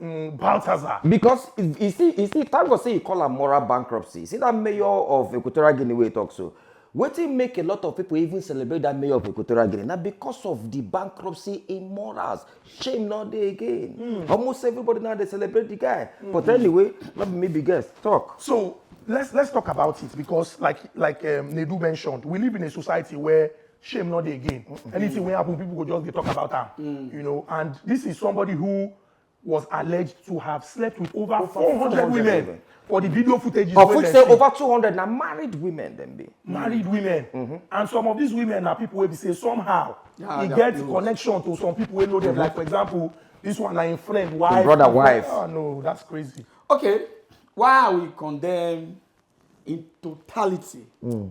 mm, Balthazar. Because you see, you see, thank God say you call am moral bankruptcy. See that mayor of Equatorial Guinea wey talk so. Wetin make a lot of people even celebrate that mayor of Equatorial Guinea na because of the bankruptcy in morals. Shame no dey again. Mm. Almost everybody now dey celebrate the guy. Mm. But anyway, no be me be guest. Talk. So let's let's talk about it because like like um, Nedu mentioned, we live in a society where shame not dey again mm. anything wey happen people go just dey talk about am mm. you know and this is somebody who was alleged to have slept with over, over 400, 400 women, women for the video footage of which say over 200 na married women dem be married women mm -hmm. and some of these women na people wey be say somehow yeah, e get close. connection to some people wey know them mm -hmm. like for example this one na im friend wife im brother wife oh no that's crazy okay why are we condemn in totality mm.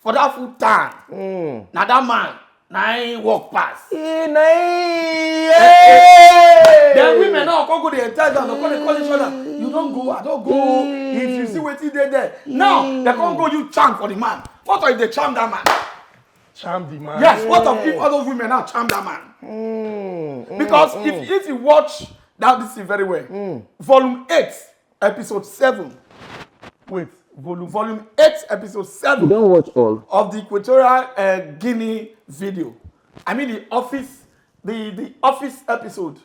for that full town mm. na that man na him work pass. Hey, na him. then women now come go dey entice am come dey call each other you don go i don go mm. if you see wetin dey there now mm. dem come go you charm for the man what if dey charm that man. charm the man. yes what of if all those women now charm that man. Mm. Mm. because mm. if if you watch that this thing very well. Mm. volume eight episode seven wait volume volume eight episode seven. you don watch all. of the equatorial uh, guinea video i mean the office the the office episode.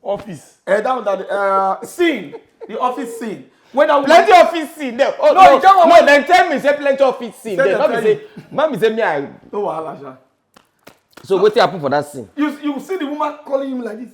office. Uh, that one that the uh, scene the office scene when i plenty of fit see dem oh no no no dem tell me say plenty of fit see dem no be say ma be say me i no wahala sha so wetin happen for that scene you you see the woman calling him like this